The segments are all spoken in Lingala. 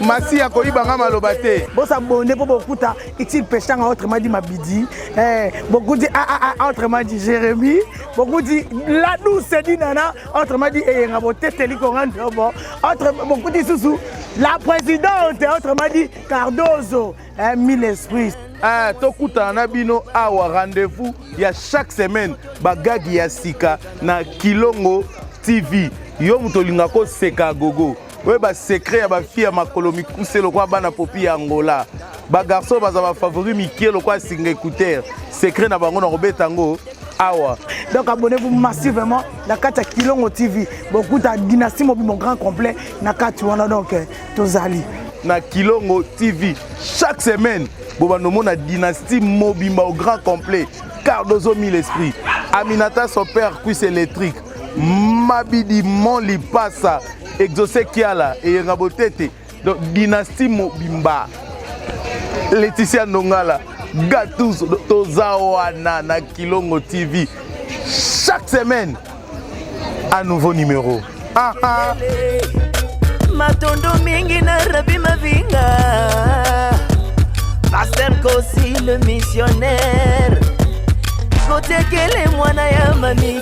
masiya koyiba nga maloba te bosa bonde mpo bokuta itil peshanga autrement dit mabidi eh, bokuti aa ah, ah, ah, autrement dit jérémi bokuti la douce dinana autrement dit eyenga boteteli konga ndobo bokuti lisusu la présidente autrement dit cardozo eh, mille esprits ah, tokutana na bino awa rendez-vous ya chaque semaine bagagi ya sika na kilongo tv yo moto olingaka koseka gogo oyo basecret ya bafille ya makolo mikuse lokola bana popi ya angola bagarçon baza bafavori mikie lokola singa écouteur secret na bango na kobeta yango awa donc abonnez-vous massivement na kati ya kilongo tv bokuta dynastie mobimo grand complet na kati wana donc eh, tozali na kilongo tv chaque semaine bobanda omona dynastie mobimba au grand complet cardozo mille esprit aminata son père cuisse électrique mabidi mon lipasa exauce kiala eyenga botete donc dynastie mobimba leticia ndongala gatus toza wana na kilongo tv chaque semaine un nouveau numéro ah, ah. matondo mingi na rabi mavinga paster kosi le missionnaire kotekele mwana ya mami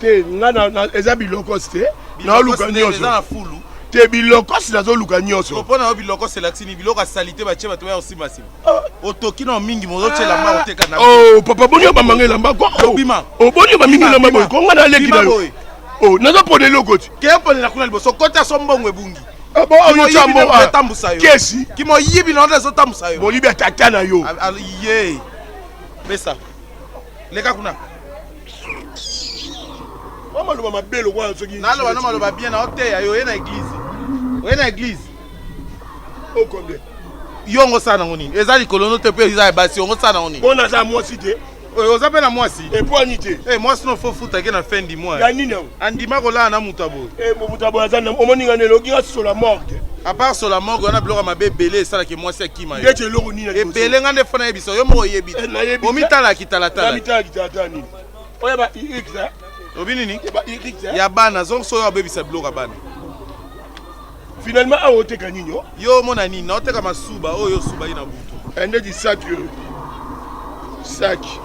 te nga eza bilokos te naoluka nyonso te bilokos nazoluka nyonso mpo na yo bilokos elakisi nini biloko ya salite batye bato baya kosimbasima ah. otoki na mingi mozotya elamba ah. oteka na oh, papa boni yo bamanga elamba ko oboni yo bamingi elamba boye ko nga naleki na yo oh, nazopona eloko ti Keyo ponela kuna liboso kota so mbongo ebungi. Ah bon, oyo tya mbongo ah, etambusa yo. Kesi. Kimo yibi na oyo ezo tambusa yo. Bolibi ya tata na yo. Ah, ah, ye. Pesa. Leka kuna. Mwa maloba mabe lokola soki. Naloba na maloba bien na oteya yo oye na eglise. Oye na eglise. O combien? Yo ngo sana ngo nini? Eza likolo no te pe eza ya basi, ngo sana ngo nini? Bona za mwasi te. oyo oza mpe na mwasi epwani te eh, mwasi no fo futake na fin du mois ya nini yango andima kolala na moto ya boye eh, moto ya boye aza omoni nga nelo okinga sola morgue apart sola morgue wana biloko ya mabe ebele esalaki mwasi akima yo eloko nini ebele nga nde fo nayebisa yo moko oyebi eh, omitalaki talatala oyo ba obi nini ya bana zonso oyo abebisa biloko ya bana Finalement awa oteka nini yo? Yo omona nini? Naoteka masuba oyo yo osuba ye na butu. Eh, ndeti saki oyo. Saki.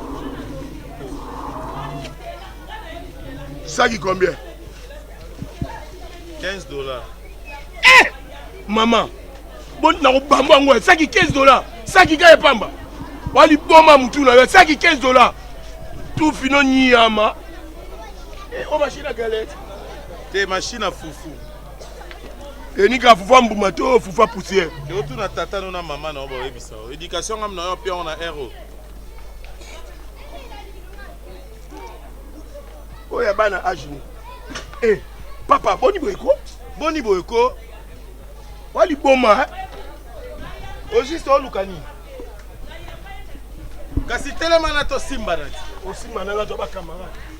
Saki combien? 15 dollars. Eh! Maman, bon nakobamba yango saki 15 dollars. Saki kaka epamba. Waliboma mutu na yo saki 15 dollars. Tu fino nyama. Eh, oh machine à galette. Te machine à foufou. enika fufa mbuma to fufa poussière otuna tata no na mama na yo bayebisa yo éducation ngam na yo pion na ero oyo ya bana age ni e eh, papa boni boye ko boni boye ko waliboma ojiste oluka nini kasi telema na tosimba na ti osimba na nga to bakamarade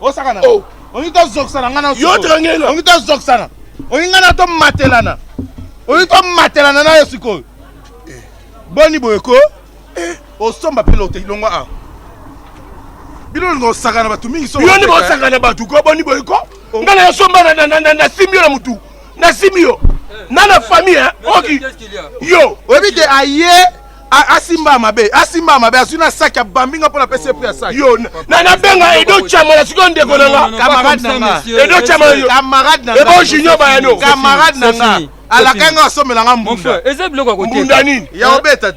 osaka na oh. olingi tozokisana ngai na yo trangela olingi tozokisana olingi ngai na tomatelana olingi tomatelana na yo sikoyo eh. boni boye ko eh. osomba mpe lote longwa awa bino olinga osaka na bato mingi yo nde bosaka na bato ko boni boye ko oh. ngai na yo somba nasimbi yo na motu nasimbi yo eh. na na famille oki yo oyebi te aye asimba mabe asimba mabe azwi na saki abambi nga mpo napesi ye pri ya saki yo na nabenga edo chamola sikoyo ndeko na nga camarade na nga edo chamola yo camarade na nga ebo junior bayano camarade na nga alaka nga asomela nga mbunda eza biloko ya kote mbunda nini ya obeta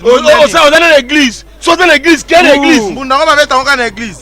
oza na eglise soki oza na eglise kende eglise mbunda ngo babeta ngo ka na eglise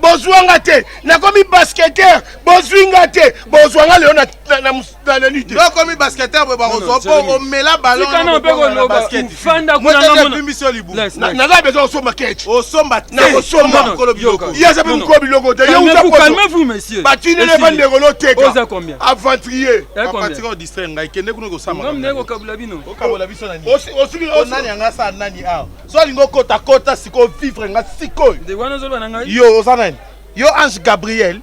bozwa nga te nakomi basketteur bozwi nga te bozwa nga lelo na lite okomi basketteur boye bakozwa mpo omela balonnaza bezo osomba kec osomba nakosomba mokolo biloko ye aza mpe mokolo biloko te ye uzabatinele bandeko loteka aventurier ngai kende kuna kosamba osuki nani anga asala nani awa so alingi okota kota sikoyo vivre nga sikoyo ndeko wana ozoloba na ngai yo oza nani yo ange gabriel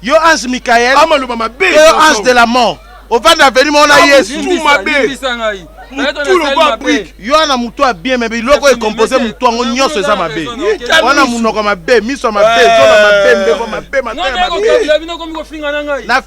yo ange michael amaloba mabe yo ange de la mort ovanda aveni mona yesu limbisa ngai yo wana motu ya bien me biloko ekompose motu yango nyonso eza mabe wana monoko mabe miso ya mabe zona mabe mbeko mabe mataya mabe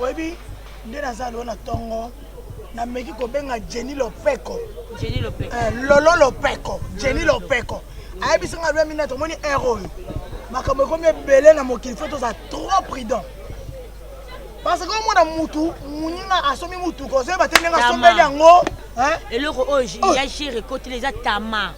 oyebi nde naza lelo na tongo nameki kobenga jenny lopeko Jenny Lopeko. Eh, lolo lopeko jenny lopeko ayebisi nga lwemi nete omoni ere oyo makambo ekomi ebele na mokili fo toza trop prudent parce que omona mutu moninga asombi motuka ozoyeba te ndenge Tama. asombeli yango hein? eloko oyo j- Oh. ya jere ekotela eza tama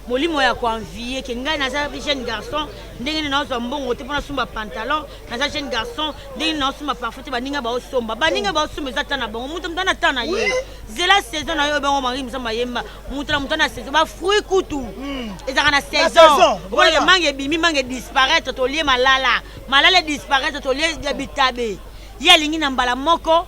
molimo ya koanvie ke ngai naza jeune garçon ndenge nini naozwa mbongo te mpo nasumba pantalon naza jeune garçon ndenge naosomba parfum te baninga baosomba baninga baosomba eza ta na bango moto moto ana ta na ye zela saison na yo oyo bango mari mosamba yemba moto na moto ana saison bafruit kutu hmm. ezalaka na saison okoleke mange ebimi mange disparaître tolie malala malala disparaître tolie bitabe ye alingi na mbala moko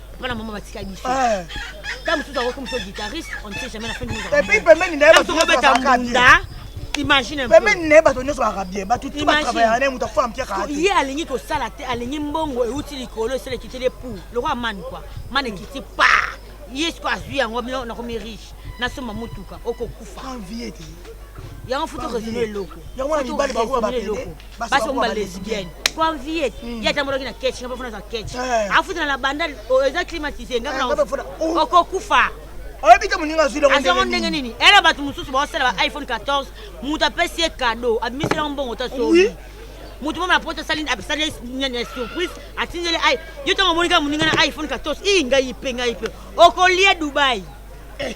bana mama batika biso eh. ntango mosusu akoki mosusu guitariste on ne sait jamais na fin epuis pembeni na ye bakobeta mbunda imagine pembeni na ye bato nyonso baka bien bato tu batravaya na ye moto akofa mpia kaka ye alingi kosala te alingi mbongo euti likolo esala ekiteli epou lokola mani kua mani ekiti pa ye siko azwi yango bino nakomi riche nasomba motuka okokufa yango futu resume eloko yango wana mibali bakoya bapede basi bango ba lesbienne po envie ye hmm. atambolaki na keche ngaba fona aza keche eh. afutana na banda oh, eza climatise eh, oh. okokufa oyebi te moninga azwi azwango ndenge nini ere bato mosusu baosala ba iphone 14 moto apesi ye kado abimisi yango mbongo ta soki moto mama na poto asali asali nyani ya surprise atindeli ai yo ntango omoni kaka moninga na iphone 14 ii ngai mpe ngai mpe okolie dubai eh.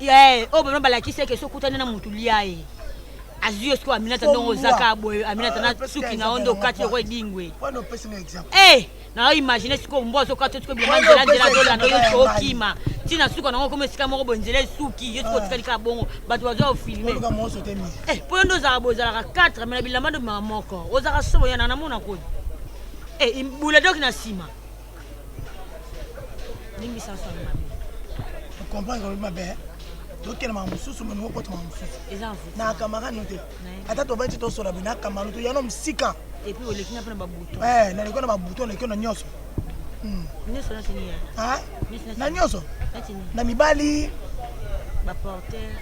Yae, oyo bana balakisi eke soki okutani na mutu lia ye. Azwi yo sikoyo Aminata ndongo ozaka boye Aminata na suki na yo nde okati yoko edingwe. Eh, na yo imagine sikoyo mbwa azokati yo sikoyo bilamba nzela nzela azolanda yo sikoyo okima. Ti na suka na ngo komi esika moko boye nzela esuki yo sikoyo otikali kaka bongo bato bazwa yo filme. Eh, po yo nde ozalaka boye ozalaka 4 me na bilamba nde obimaka moko. Ozalaka somo yana namona koni. Eh, bula doki na nsima. limbisa nso yango mabe okomprendre olobi mabe tokende makambo mosusu meme okota makambo mosusu na camarade no te ata tobandi ti tosola boye na camarade to yano mosika naleki na babuto naleki na nyonso hmm. na nyonso na mibali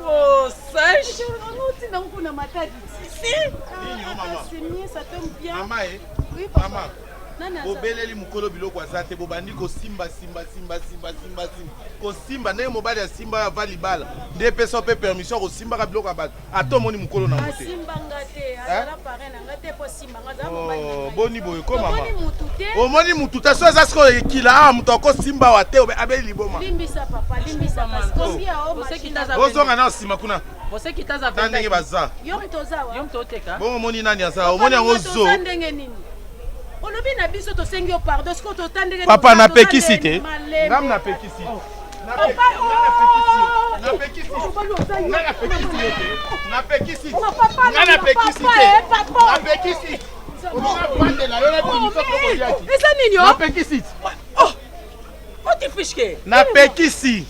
Oh, sage. bobeleli mokolo biloko aza te bobandi kosimba simba simba simba simba simba kosimba ndenge mobali asimba ava libala nde epesa mpe permission ya kosimbaka biloko ya bato ata omoni mokolo nango te Oh, boni boye ko mama omoni mutu te so eza sikoyo ekila awa ah, moto akosimba wa te abeli liboma ozonga nao nsima kuna na ndenge baza bongo omoni nani aza omoni yango zo olobi na biso tosengi yo pardon sikoyo tota ndenge papa napekisi te ngam napekisi napekisi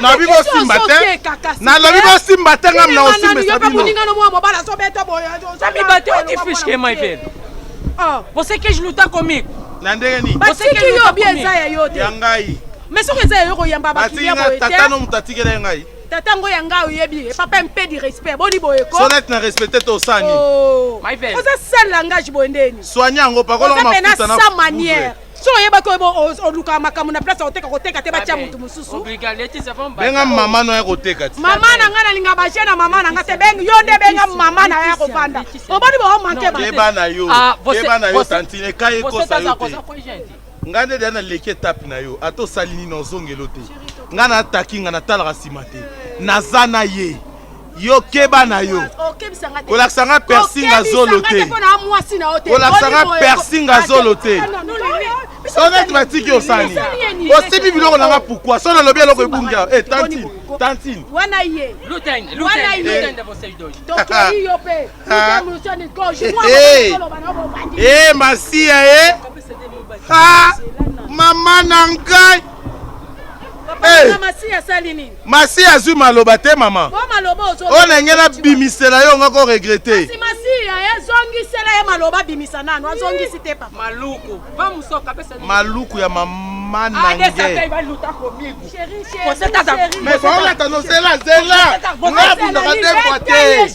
nalobi bosimba te nalobi bosimba te nga mna osimbasabinosamibateotifiskemaipele ah. bosekeji luta komiko na ndenge nini basiki yo bi eza ya yo te ya ngai mais soki eza yayo koyamba bakiliya boye te tata no moto atikela ye ngai tata yango ya ngai oyebi ye papa mpe di respect boni boye ko sonete na respecte te osani oh. oza sale langage boye ndeni soigni yango pakolaka mafuta na sa manière so oyebaki olukaka makambo na place akoteka koteka te batya motu mosusu benga mama na ya koteka ti mama na ngai nalinga baje na mama na ngai te bengi yo nde benga mama na ya kofanda oboni bomanke bana yo tantine ekai ekosa yo te Nga nde deja na leki etape na yo ata osali nini ozongelo te nga na ataki nga na talaka sima te naza na ye yo keba na yo kolakisa nga persi nga zolo te kolakisa nga persi nga zolo te soneti batiki osani osibi biloko na nga pourkui so nalobi eloko ebungi awa e tantine tantine wana ye wana ye tokei yo mpe masiya ye ah, mama na ngai eh. masi azwi maloba te mama oyo ndenge nabimisela yo ngako regrete maluku ya mama manangeolata nozela zela nga abundaka te mpo te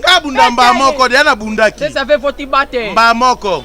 nga abunda mbaa moko deya nabundaki mbaa moko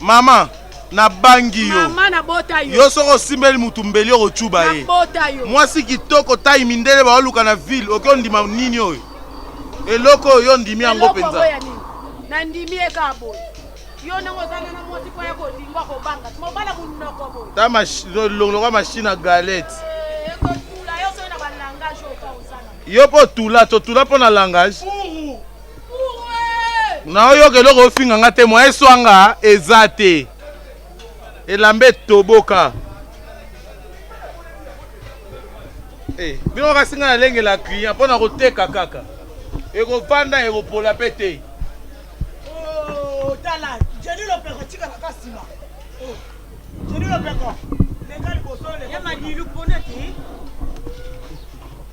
Mama, nabangi yo. Mama, nabota yo. Yo soki osimbeli mutu mbeli okocuba ye. Nabota yo. Mwasi kitoko tai mindele baoluka na ville, oke ondima nini oyo? Eloko oyo yo ondimi yango mpenza. Eloko ya nini? Nandimi ye kaka boye. Yo ndenge ozanga na mwasi mpo ya kolinga kobanga. Mobala munoko boye. Ta longolaka machine ya galette. Eh, ekotula yo soki na ba langage oyo ka ozana. Yo mpo otula, totula mpo na langage. Puru. naoyoka eloko ofinga nga te mwa eswanga eza te elamba etoboka hey, eh, bino kasi nga nalengela client mpo na koteka kaka ekofanda ekopola mpe te oh, tala jeni lopeko tikala ka nsima oh, jeni lopeko leka liboso leka madilu mpona te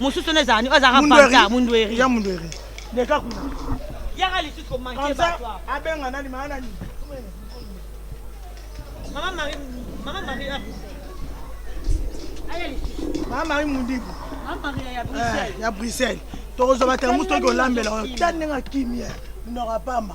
mosusu wana ezala nini azalaka vanta mundueri ya mundueri deka kuna yaka lisusu komanke bato abenga nani maa nani mama mari mama mari aya lisusu mama mari mundibu mama mari ya bruxelles eh, ya bruxelles tokozwa batela mosu toki olambela oyo ta ndenge akimi ye minoko apamba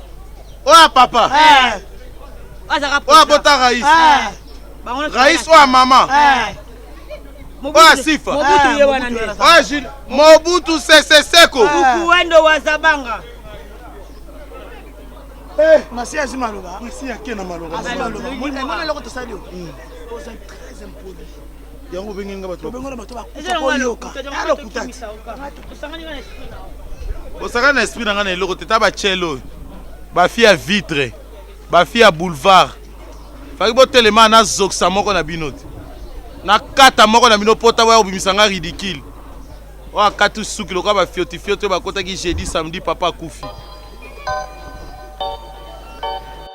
oya papa oya bota rais rais oya mama oya sifa oya jil mobutu sese seko ukuendo wa zabanga eh. masi azi maloba masi ake na maloba mwana eloko tosali oza très impoli yango obenge nga bato obenge bato bakufa ko yoka alo kutati osakani na esprit na nga na eloko te ta ba chel oyo ba fille ya vitre ba fille ya boulevard faki botelema na zokisa moko na bino te na kata moko na bino pota boya kobimisa nga ridicule oyo akati suki lokola bafiotifioti oyo bakotaki jeudi samedi papa akufi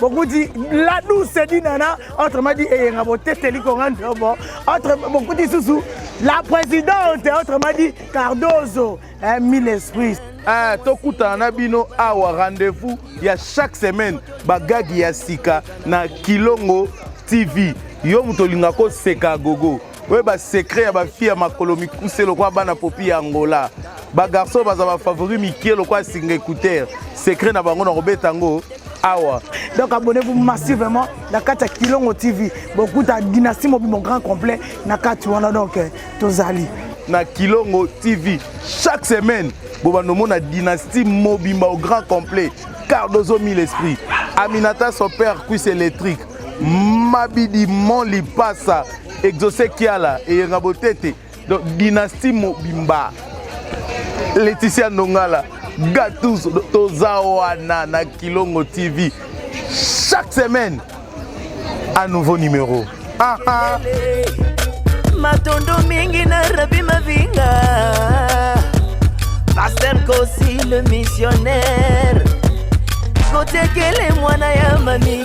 bokuti la douce dinana autrement dit eyenga boteteli konga ndobo autre bokuti susu la présidente autrement dit cardozo eh, mille esprits Ah, tokutana na bino awa rendez-vous ya chaque semaine bagagi ya sika na kilongo tv yo moto olingaka koseka gogo oyo basecret ya bafille ya makolo mikuse lokola bana popi ya angola bagarçon oyo baza bafavori mike lokola singa écouteur secret na bango na kobeta yango awa donc abonnez-vous massivement na kati ya kilongo tv bokuta dynastie mobimo grand complet na kati wana donc eh, tozali na kilongo tv chaque semaine bobanda omona dynastie mobimba au grand complet cardozo mille esprit aminata son père cuisse électrique mabidi mon lipasa exauce kiala eyenga botete donc dynastie mobimba leticia ndongala gatus toza wana na kilongo tv chaque semaine un nouveau numéro ah, ah. matondo mingi na rabi mavinga paster kosi le missionnaire kotekele mwana ya mami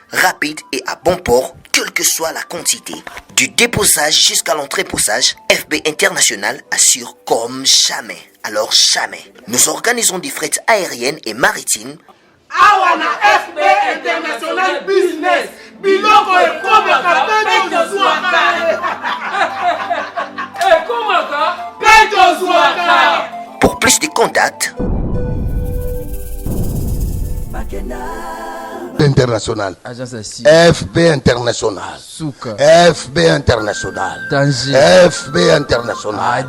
rapide et à bon port, quelle que soit la quantité, du déposage jusqu'à l'entreposage, FB International assure comme jamais. Alors jamais. Nous organisons des frettes aériennes et maritimes. Awana FB International Business, biloko ekomaka mpe tozwaka. Ekomaka mpe tozwaka. Pour plus de contacts. international fb international fb international fb international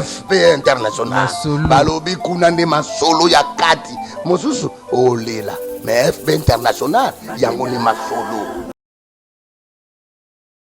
fb international balobi kuna nde masolo ya kati mosusu olela mais fb international yango nde masolo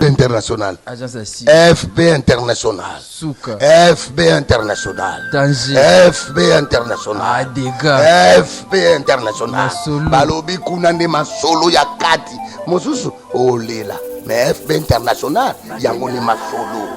international fb international fb international fb international fb international balobi kuna nde masolo ya kati mosusu olela mais fb international yango nde masolo